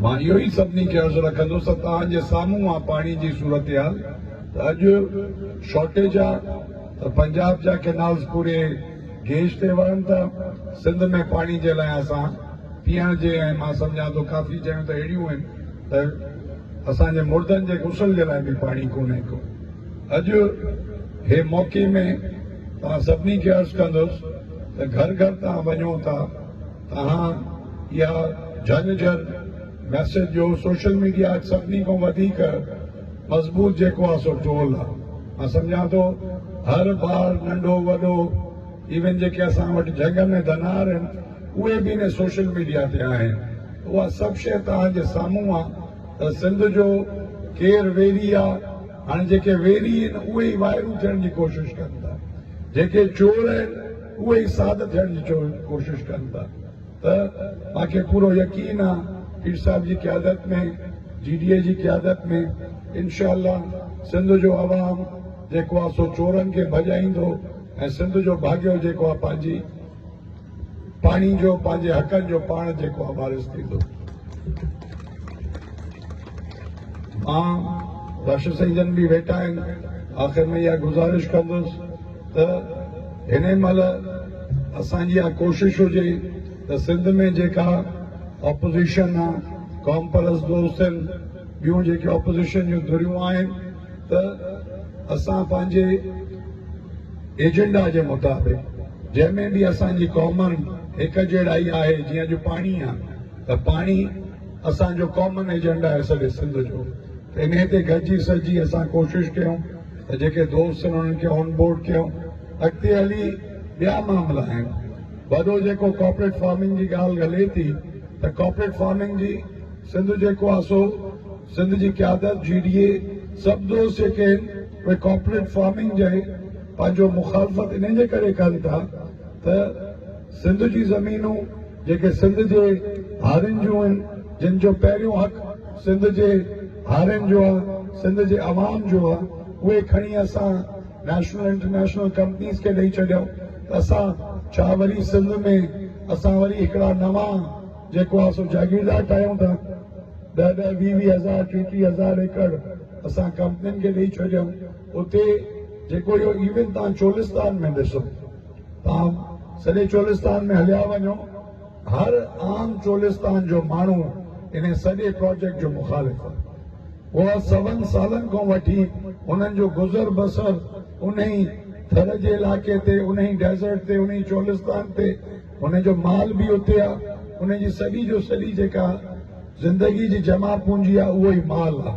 مان اهو ئي سڀني کي عرض رکندس ته توهان جي سامهون آ پاڻي جي صورتحال ته اڄ شارٽيج آ ته پنجاب جا ڪينالز پوري گيج تي وهن ٿا، سنڌ ۾ پاڻي جي لاء اسان پيئڻ جي ۽ مان سمجهان ٿو ڪافي جايون ته اهڙيون آهن ته اسان جي مردن جي غسل جي لاء به پاڻي ڪونهي ڪو. اڄ هي موقعي ۾ توهان سڀني کي عرض ڪندس ته گهر گهر توهان وڃو ٿا، اها يا جهنجهر ميسيج جو سوشل ميڊيا اڄ سڀني کان وڌيڪ مضبوط جيڪو آهي سو ٽول آهي مان سمجهان ٿو هر ٻار ننڍو وڏو ايون جيڪي اسان وٽ جهنگ ۾ ڌنار آهن اهي به ان سوشل ميڊيا تي آهن اها سڀ شيء توهان جي سامهون آهي ته سنڌ جو ڪير ويري آهي هاڻي جيڪي ويري آهن اهي ئي وائرون ٿيڻ جي ڪوشش ڪن ٿا جيڪي چور آهن اهي ئي ساڌ ٿيڻ جي ڪوشش ڪن ٿا ته مان کي پورو يقين آ پير صاحب جي قيادت ۾ جي ڊي اي جي قيادت ۾ انشاء الله سنڌ جو عوام جيڪو آ سو چورن کي ڀڄائيندو ۽ سنڌ جو ڀاڳيو جيڪو آ پنهنجي پاڻي جو پنهنجي حقن جو پاڻ جيڪو آ وارث ٿيندو مان بخش سائين جن به ويٺا آهن آخر ۾ اها گذارش ڪندس ته هني مهل اسان جي اها ڪوشش هجي ته سنڌ ۾ جيڪا اپوزيشن آ، قوم پرست دوست آهن، ٻيون جيڪي اپوزيشن جون ڌريون آهن ته اسان پنهنجي ايجنڊا جي مطابق جنهن ۾ به اسان جي ڪامن هڪ جهڙائي آهي جيئن اڄ پاڻي آ ته پاڻي اسان جو ڪامن ايجنڊا آهي سڄي سنڌ جو ته انهي تي گڏجي سڏجي اسان ڪوشش ڪيون. ته جيڪي دوست آهن انهن کي آن بورڊ ڪيو، اڳتي هلي ٻيا معاملا آهن، وڏو جيڪو ڪارپوريٽ فارمنگ جي ڳالهه هلي ٿي ته ڪارپوريٽ فارمنگ جي سنڌ جيڪو آهي سو سنڌ جي قيادت جي ڊي اي سڀ دوست جيڪي آهن اهي ڪارپوريٽ فارمنگ جي پنهنجو مخالفت انهن جي ڪري ڪن ٿا ته سنڌ جون زمينون جيڪي سنڌ جي هارين جون آهن، جن جو پهريون حق سنڌ جي هارين جو آهي، سنڌ جي عوام جو آهي، اهي کڻي اسان نيشنل انٽرنيشنل ڪمپنيز کي ڏئي ڇڏيائون ته اسان ڇا وري سنڌ ۾ اسان وري هڪڙا نوان جيڪو آهي سو جاگيردار ٺاهيون ٿا، ڏهه ڏهه ويهه ويهه هزار ٽيهه ٽيهه هزار ايڪڙ اسان ڪمپنين کي ڏئي ڇڏيائون. اتي جيڪو اهو ايونٽ توهان چولستان ۾ ڏسو، توهان سڄي چولستان ۾ هليا وڃو، هر عام چولستان جو ماڻهو ان سڄي پراجيڪٽ جو مخالف آهي. هو سون سالن کان وٺي انهن جو گذر بسر انهي ٿر جي علائقي تي، انهي ڊيزرٽ تي، انهي چولستان تي، انهن جو مال به اتي آهي، انهن جي سڄي جو سڄي جيڪا زندگي جي جمع پونجي آهي اهو ئي مال آهي.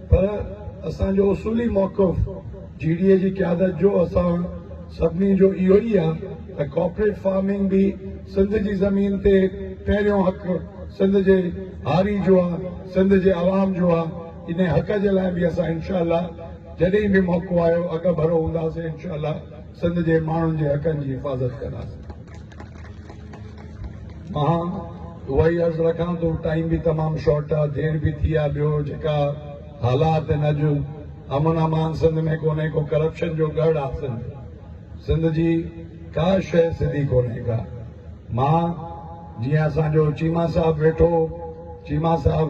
پر اسان جو اصولي موقف جي ڊي اي جي قيادت جو اسان سڀني جو اهو ئي آهي ته ڪارپوريٽ فارمنگ به سنڌ جي زمين تي پهريون حق سنڌ جي هاري جو آهي سنڌ جي عوام جو آهي انهي حق جي لاء به اسان انشاء الله جڏهن به موقعو آيو اڳڀرو هونداسين انشاء الله سنڌ جي ماڻهن جي حقن جي حفاظت ڪنداسين. مان اهائي عرض رکان ٿو، ٽائيم به تمام شارٽ آ، دير به ٿي آ، ٻيو جيڪا حالات هن اڄ امن امان سنڌ ۾ ڪونهي ڪو ڪرپشن جو ڳڙهه آ سنڌ، سنڌ جي ڪا شيء سڌي ڪونهي ڪا، مان جيئن اسان جو چيما صاحب ويٺو چيما صاحب.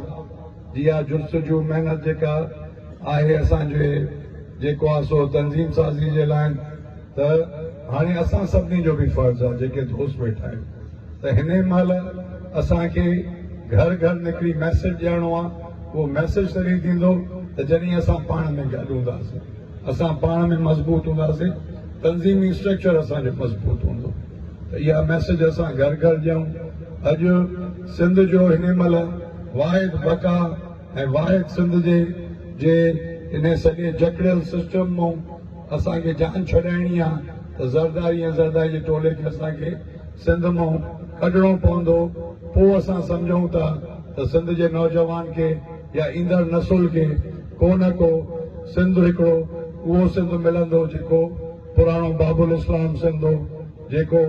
اها جستجو محنت جيڪا آهي اسان جي جيڪو آهي سو تنظيم سازي جي لاء ته هاڻي اسان سڀني جو به فرض آهي جيڪي دوست ويٺا آهيون ته هن ئي مهل اسان کي گهر گهر نڪري ميسيج ڏيڻو آهي اهو ميسيج تڏهن ٿيندو ته جڏهن اسان پاڻ ۾ گڏ هونداسين اسان پاڻ ۾ مضبوط هونداسين، تنظيمي اسٽرڪچر اسان جو مضبوط هوندو ته اها ميسيج اسان گهر گهر ڏيون. اڄ سنڌ جو هن مهل واحد بقا ۽ واحد سنڌ جي جي انهي سڄي جڪڙيل سسٽم مون اسان کي جان ڇڏائڻي آ ته زرداري ۽ زرداري جي ٽولي کي اسان کي سنڌ مون ڪڍڻو پوندو پوء اسان سمجهون ٿا ته سنڌ جي نوجوان کي يا ايندڙ نسل کي ڪو نه ڪو سنڌ هڪڙو اهو سنڌ ملندو جيڪو پراڻو باب الاسلام سنڌ هو جيڪو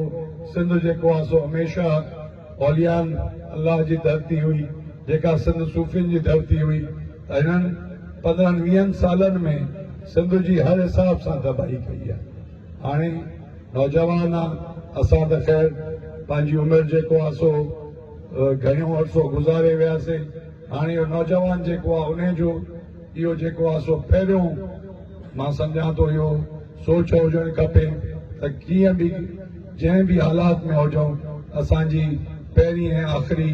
سنڌ جيڪو آ سو هميشه اوليائن الله جي ڌرتي هئي جيڪا سنڌ صوفين جي ڌرتي هئي ته هنن پندرهن ويهن سالن ۾ سنڌ جي هر حساب سان تباهي ڪئي آ هاڻي نوجوان آ اسان ته خير پنهنجي عمر جيڪو آ سو گهڻيو عرصو گذاري وياسي. هاڻي اهو نوجوان جيڪو آهي انهي جو اهو جيڪو آهي سو پهريون مان سمجهان ٿو اهو سوچ هجڻ کپي ته ڪيئن به جنهن به حالات ۾ هجون اسان جي پهرين ۽ آخري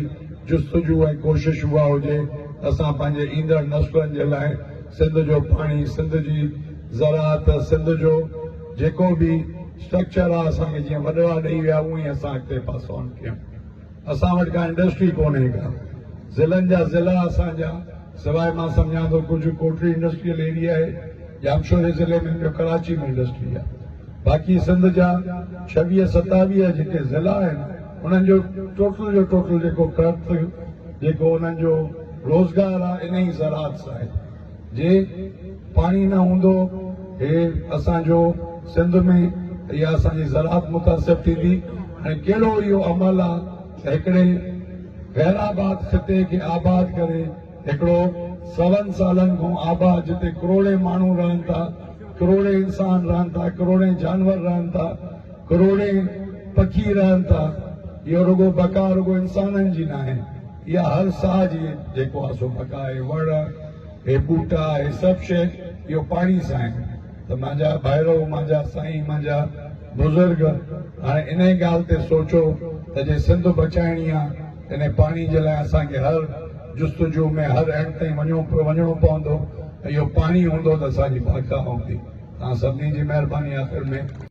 جستجو ۽ ڪوشش اها هجي ته اسان پنهنجي ايندڙ نسلن جي لاء سنڌ جو پاڻي سنڌ جي زراعت سنڌ جو جيڪو به اسٽرڪچر آهي اسان کي جيئن وڏڙا ڏئي ويا اهئين اسان اڳتي پاسائون ڪيون. اسان وٽ ڪا انڊسٽري ڪونهي ڪا ضلعن جا ضلعا اسان جا سواء مان سمجهان ٿو ڪجهه ڪوٽڙي انڊسٽريل ايريا آهي ڄامشوري ضلعي ۾ ٻيو ڪراچي ۾ انڊسٽري آهي باقي سنڌ جا ڇويهه ستاويهه جيڪي ضلعا آهن انهن جو ٽوٽل جو ٽوٽل جيڪو ڪرت جيڪو انهن جو روزگار آهي انهي زراعت سان آهي جي پاڻي نه هوندو هي اسان جو سنڌ ۾ اها اسان جي زراعت متاثر ٿيندي ۽ ڪهڙو اهو عمل آ ته هڪڙي غير آباد خطي کي آباد ڪري هڪڙو سون سالن کون آباد جتي ڪروڙين ماڻهو رهن ٿا ڪروڙين انسان رهن ٿا ڪروڙين جانور رهن ٿا ڪروڙين پکي رهن ٿا اهو رڳو بقا رڳو انسانن جي ناهي يا هر ساهه جي جيڪو آسو پڪا هي وڻ، هي ٻوٽا، هي سڀ شيء اهو پاڻي سان آهن ته مانجا ڀائرو، مانجا سائين، مانجا بزرگ هاڻي انهي ڳالهه تي سوچو ته جي سنڌ بچائڻي آ ته انهي پاڻي جي لاء اسان کي هر جستجو ۾ هر اينڊ تائين وڃڻو پوندو ۽ اهو پاڻي هوندو ته اسان جي باقا هوندي. توهان سڀني جي مهرباني آخر ۾.